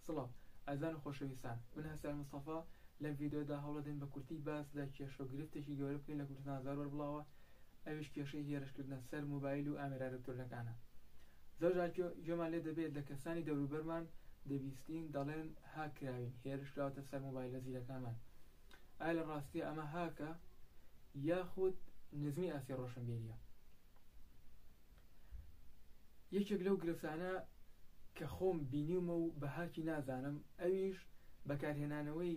سڵاو ئازان و خۆشەویستان من هەسار مستەفا لەم ڤیدیۆدا هەوڵەدەین بە کورتی باس لە کێشە و گرفتێکی گەورە بکەین لە کوردستان زۆر بەربڵاوە ئەویش کێشەی هێرشکردنە سەر مۆبایل و ئامێرە ئەلکترۆنەکانە زۆر جار گوێمان لێ دەبێت لە کەسانی دەوروبەرمان دەبیستین دەڵێن هاک کراوین هێرش کراوەتە سەر مۆبایلە زیرەکانمان ئایا لە ڕاستیە ئەمە هاکە یاخود نزمی ئاستی ڕۆشنبیریە یەکێک لەو گرفتانە کە خۆم بینیومە و بەهاکی نازانم ئەویش بەکارهێنانەوەی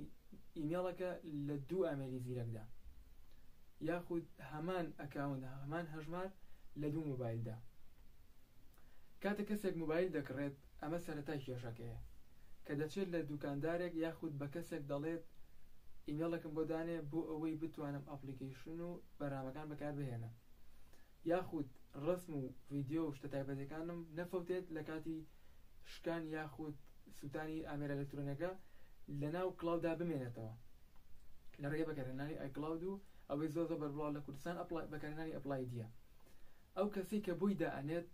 ئیمێڵەکە لە دوو ئامێری زیرەکدا یاخود هەمان ئەکاونت هەمان هەژمار لە دوو مۆبایلدا کاتە کەسێک مۆبایل دەکڕێت ئەمە سەرەتای کێشەکەیە کە دەچێت لە دوکاندارێک یاخود بە کەسێک دەڵێت ئیمێڵەکەم بۆ دانێ بۆ ئەوەی بتوانم ئەپڵیکەیشن و بەرنامەکان بەکاربهێنم یاخود ڕەسم و ڤیدیۆ و شتە تایبەتەکانم نەفەوتێت لە کاتی شکان یاخود سوتانی ئامێرە ئەلەکترۆنیەکە لەناو کڵاودا بمێنێتەوە لە ڕێگەی بەکارهێنانی ئایکڵاود و ئەوەی زۆر زۆر بەربڵاو لە کوردستان ئەپڵای بەکارهێنانی ئەپڵایدیە ئەو کەسەی کە بۆی دائەنێت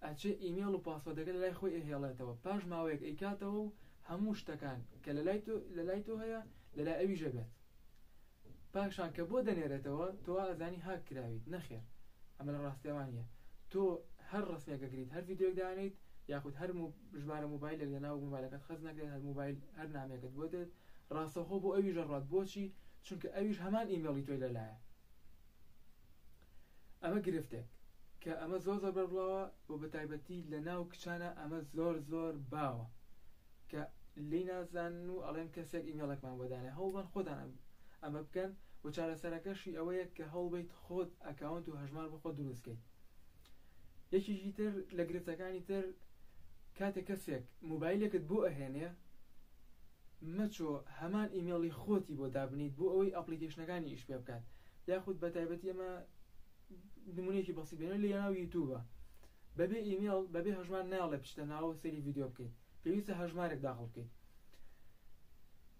ئەچێ ئیمێڵ و پاسۆردەکە لەلای خۆی ئەهێڵێتەوە پاش ماوەیەک ئەیکاتەوە و هەموو شتەکان کە لەلای تۆ لەلای تۆ هەیە لەلای ئەویشە بێت پاشان کە بۆ دەنێرێتەوە تۆ وا ئەزانی هاک کراویت نەخێر ئەمە لە ڕاستیەوە نیە تۆ هەر ڕسمێک ئەگریت هەر ڤیدیۆک دانێیت یاخود هەر ژمارە موبایلێک لە ناو موبایلەکەت خەز نەکرێت هەر موبایل هەر نامەکەت بۆ دێت ڕاستەخۆ بۆ ئەویش ئەڕات بۆچی چونکە ئەویش هەمان ئیمێڵی تۆی لەلایە ئەمە گرفتێک کە ئەمە زۆر زۆر بەربڵاوە و بە تایبەتی لە ناو کچانە ئەمە زۆر زۆر باوە کە لی نازانن و ئەڵێن کەسێک ئیمێڵێکمان بۆ دانێ هەوڵبەن خۆتان ئەمە بکەن و چارەسەرەکەشی ئەوەیە کە هەوڵبیت خۆت ئەکاونت و هەژمار بۆ خۆت دروستکەیت یەکیشی تر لە گرفتەکانی تر کاتێک کەسێک موبایلێکت بۆ ئەهێنێ مەچۆ هەمان ئیمێڵی خۆتی بۆ دابنیت بۆ ئەوەی ئەپلیکیشنەکانی ئیش پێ بکات یاخود بەتایبەتی ئەمە نمونەیەکی بەسیط بێنە لە ناو یوتوبە بەبێ ئیمێڵ بەبێ هەژمار ناڵێ بچتە ناوە سەری ڤیددیو بکەیت پێویستە هەژمارێک داخڵ بکەیت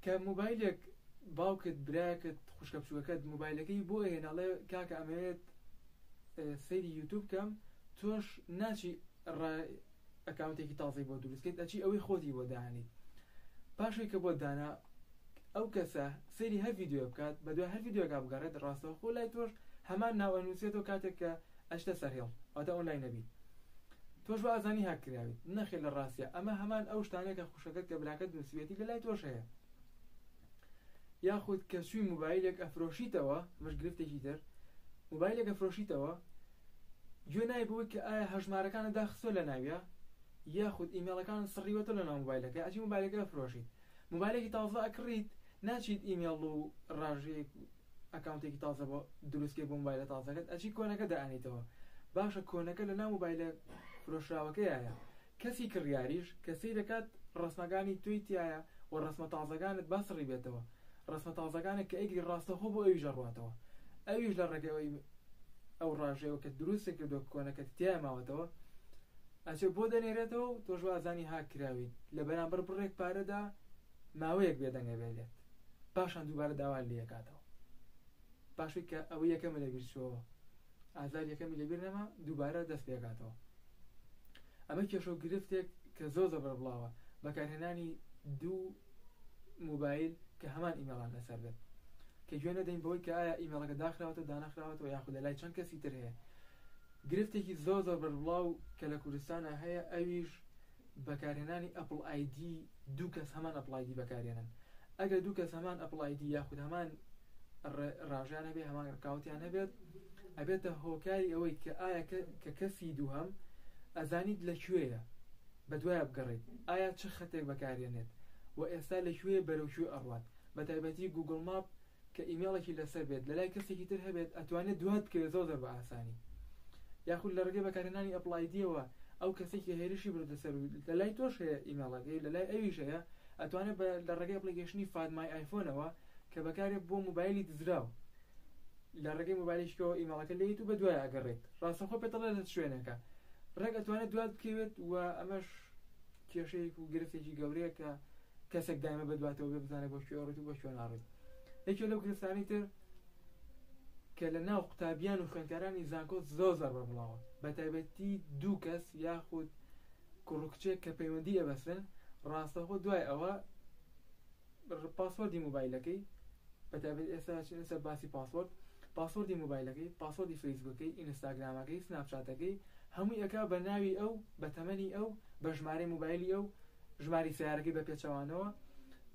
کە موبایلێک باوکت براکت خوشکە بچووەکەت موبایلەکەی بۆ هێناڵێ کاکە ئەمەوێت سەیری یوتوب کەم تۆش ناچی ئەکاونتێکی تازەی بۆ دروست کرد ئەچی ئەوەی خۆتی بۆ دانێی پاشەی کە بۆ دانا ئەو کەسە سەیری هەر ڤیددیو بکات بە دوای هەر ڤیددیوگا بگەڕێت ڕاستەوە خۆ لای تۆش هەمان ناوە نووسێتەوە کاتێک کە ئەشتە سەرهێڵ ئەوتە ئۆنلای نەبی تۆش بە ئازانی هاک کراویت نەخێ لە ڕاستە ئەمە هەمان ئەو شتانە کە خوشەکەت کە براکەت نووسیوێتی لە لای تۆش هەیە یاخود کە شووی موبایلێک ئەفرۆشیتەوە مش گرفتێکی تر موبایلێکە فرۆشیتەوە گوێ نای بەوەی کە ئایا هەژمارەکانت داخستوە لە ناویا یاخود ئیمێڵەکانت سڕیوەتە لە ناو مۆبایلەکەی ئەچی مۆبایلەکە ئەفرۆشیت مۆبایلێکی تازە ئەکڕیت ناچیت ئیمێڵ و ڕاژەیەک ئەکاونتێکی تازە بۆ دروستکەی بۆ مۆبایلە تازەکەت ئەچی کۆنەکە دائەنیتەوە باشە کۆنەکە لە ناو مۆبایلە فرۆشراوەکەیایە کەسی کڕیاریش کە سەیرەکات ڕەسمەکانی تۆی تیایە و ڕەسمە تازەکانت با سڕی بێتەوە، ڕەسمە تازەکانت کە ئەیکری ڕاستەوخۆ بۆ ئەویش ئەڕواتەوە، ئەویش لە ڕێگەی ئەو ڕاژەیەوە کە دروستت کردوە کە کۆنەکەت تیای ماوەتەوە ئەچێ بۆ دەنێرێتەوە و تۆش وازانی هاک کراویت لە بەرامبەر بڕێک پارەدا ماوەیەک بێدەنگ ئەبێ لێت پاشان دووبارە داوات لێ ئەکاتەوە. پاشوی کە ئەوەی یەکەمی لەبیر چۆوە ئازاری یەکەمی لەبیر نەما دووبارە دەست پێکاتەوە ئەمە کێشەو گرفتێک کە زۆر زەبرە بڵاوە بەکارهێنانی دوو موبایل کە هەمان ئیمێڵان لەسەر بێت کە گوێ نەدەین بەوەی کە ئایا ئیمێڵەکە داخراوەتە دانەخراوەتەوە یاخود لە لای چەند کەسی تر هەیە گرفتێکی زۆر زۆر بەربڵاو کە لە کوردستانە هەیە ئەویش بەکارهێنانی ئەپڵ ئایدی دوو کەس هەمان ئەپڵ ئایدی بەکارهێنن ئەگەر دوو کەس هەمان ئەپڵ ئایدی یاخود هەمان ڕاژیان هەبێ هەمان ڕکاوتیان هەبێت ئەبێتە هۆکاری ئەوەی کە ئایا کە کەسی دووهەم ئەزانیت لە کوێیە بە دوایە بگەڕیت ئایا چ خەتێک بەکارێنێت و ئێستا لە کوێ بەرەو کوێ ئەڕوات بە تایبەتی گوگل ماپ کە ئیمێڵێکی لەسەر بێت لەلای کەسێکی تر هەبێت ئەتوانێت دوات بکەوێت زۆر زۆر بە ئاسانی یاخود لە ڕگەی بەکارهێنانی ئەپلایدیەوە ئەو کەسێکی هێرشی بردە سەر و لە لای تۆش هەیە ئیمێڵەکەی لە لای ئەویش هەیە ئەتوانێت لە ڕێگەی ئەپلیکیشنی فادمای ئایفۆنەوە کە بەکارێت بۆ موبایلی دزراو لە ڕێگەی موبایلشکەوە ئیمەڵەکە لێیت و بە دوای ئەگەڕێت ڕاستەخۆ پێتەڵێت لە شوێنەکە ڕێک ئەتوانێت دوات بکەوێت و ئەمەش کێشەیەک و گرفتێکی گەورەیە کە کەسێک دایمە بەدواتەوە بێ بزانێت بۆ کوێ ڕێت و بۆ کوێ ناڕێت یەکێ لەو گرفتانی تر کە لە ناو قوتابیان و خوێندکارانی زانکۆ زۆر زەر بە بڵاوە بە تایبەتی دوو کەس یاخود کوڕکچێک کە پەیوەندی ئەبەسن ڕاستەخۆ دوای ئەوە پاسۆردی مۆبایلەکەی بەتایبەت ئێستا ئەچینە سەر باسی پاسۆرد پاسۆردی مۆبایلەکەی پاسۆردی فەیسبوکەکەی ئینستاگرامەکەی سناپچاتەکەی هەمووی ئەکا بە ناوی ئەو بە تەمەنی ئەو بە ژمارەی مۆبایلی ئەو ژماری سیارەکەی بە پێچەوانەوە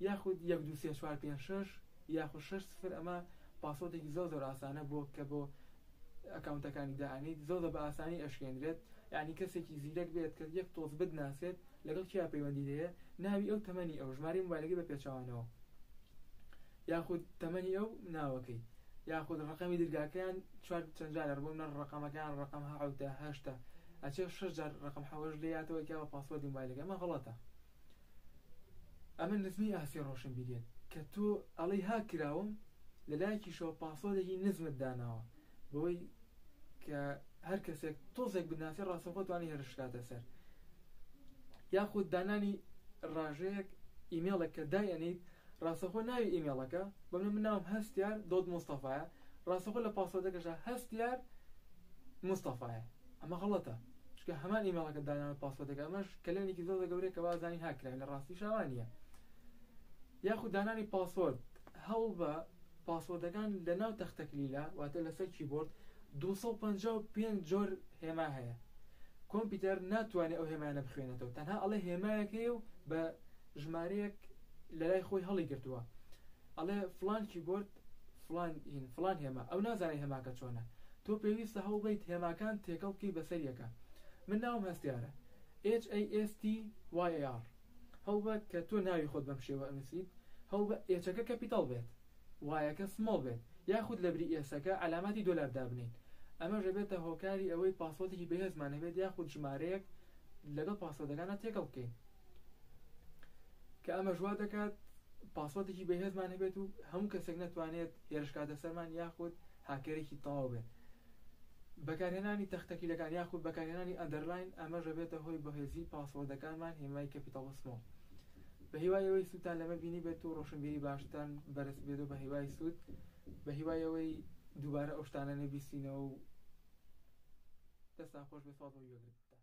یاخود یەک دوو سێ چوار پێنج شەش یاخود شەش سفر ئەمە پاسۆردێکی زۆر زۆر ئاسانە بۆ کە بۆ ئەکاونتەکانی دائەنیت زۆر زۆر بە ئاسانی ئەشکێنرێت یعنی کەسێکی زیرەک بێت کە یەک تۆز بدناسێت لەگەڵ کێ پەیوەندیت هەیە، ناوی ئەو، تەمەنی ئەو، ژمارەی مۆبایلەکەی بە پێچەوانەوە یاخود تەمەنی ئەو، ناوەکەی یاخود ڕەقەمی درگاکەیان چوار چەند جارە بۆ منە ڕەقەمەکەیان ڕەقەم حەوتە هەشتە ئەچێ شەش جار ڕەقەم حەوەش لێ یاتەوە کە بە پاسوەردی مۆبایلەکە ئەمە غەڵەتە ئەمە نزمی ئاستی ڕۆشنبیریت کە تۆ ئەڵەی هاک کراوم لە لایەکیشەوە پاسوەردێکی نزمت داناوە بەوەی کە هەر کەسێک تۆزێک بناسی ڕاستەوخۆ توانی هێرش کاتە سەر یاخود دانانی ڕاژەیەک ئیمێڵێک کە دایەنیت ڕاستەخۆ ناوی ئیمێڵەکە بەم من ناوم هەستیار دۆت مستەفاە ڕاستەخۆ لە پاسۆدەکەشە هەستیار مستەفاە ئەمە غڵەتە چکە هەمان ئیمێڵەکە داناوە پاسۆدەکە ئەمەش کەلێنێکی زۆر گەورەیە کە بازانی هاکرای لە ڕاستی شاوانە یاخود دانانی پاسۆرد، هەوڵبە پاسۆردەکان لە ناو تەختەکلیلە، واتە لەسەر کیبۆرد، دوو سەد و پەنجا و پێنج جۆر هێما هەیە، کۆمپیوتەر ناتوانێت ئەو هێمایانە بخوێنێتەوە، تەنها ئەڵێ هێمایەک هەیە و بە ژمارەیەک لەلای خۆی هەڵیگرتووە، ئەڵێ فڵان کیبۆرد فڵان هین فڵان هێما، ئەو نازانێت هێماکە چۆنە، تۆ پێویستە هەوڵبەیت هێماکان تێکەڵ بکەیت بەسەر یەکە. من ناوم هەستیارە HASTYAR. هەوڵبە کە تۆ ناوی خۆت بەم شێوە ئەنووسیت، هەوڵبە ئێچەکە کەپیتەڵ بێت، وایەکە سمۆڵ بێت، یاخود لەبری ئێسەکە عەلاماتی دۆلار دابنێیت، ئەمەش ئەبێتە هۆکاری ئەوەی پاسۆدێکی بەهێزمان نەبێت یاخود ژمارەیەک لەگەڵ پاسۆدەکاندا تێکەڵ بکەین کە ئەمەش وادەکات پاسۆدێکی بەهێزمان هەبێت و هەموو کەسێک نەتوانێت هێرشکاتە سەرمان یاخود هاکێرێکی تەواو بێت. بەکارهێنانی تەختەکلیلەکان یاخود بەکارهێنانی ئەندەرلاین ئەمەش دەبێتە هۆی بەهێزی پاسۆردەکانمان هێمای کەپیتاڵ سمۆڵ. بەهیوای ئەوەی سوودتان لەمە بینی بێت و ڕۆشنبیری باشتان بەرز بێت و بەهیوای سوود بەهیوای ئەوەی دووبارە ئەو شتانە نەبیستینەوە و دەستان خۆش بێت سوپاس بۆ گوێگرتنتان.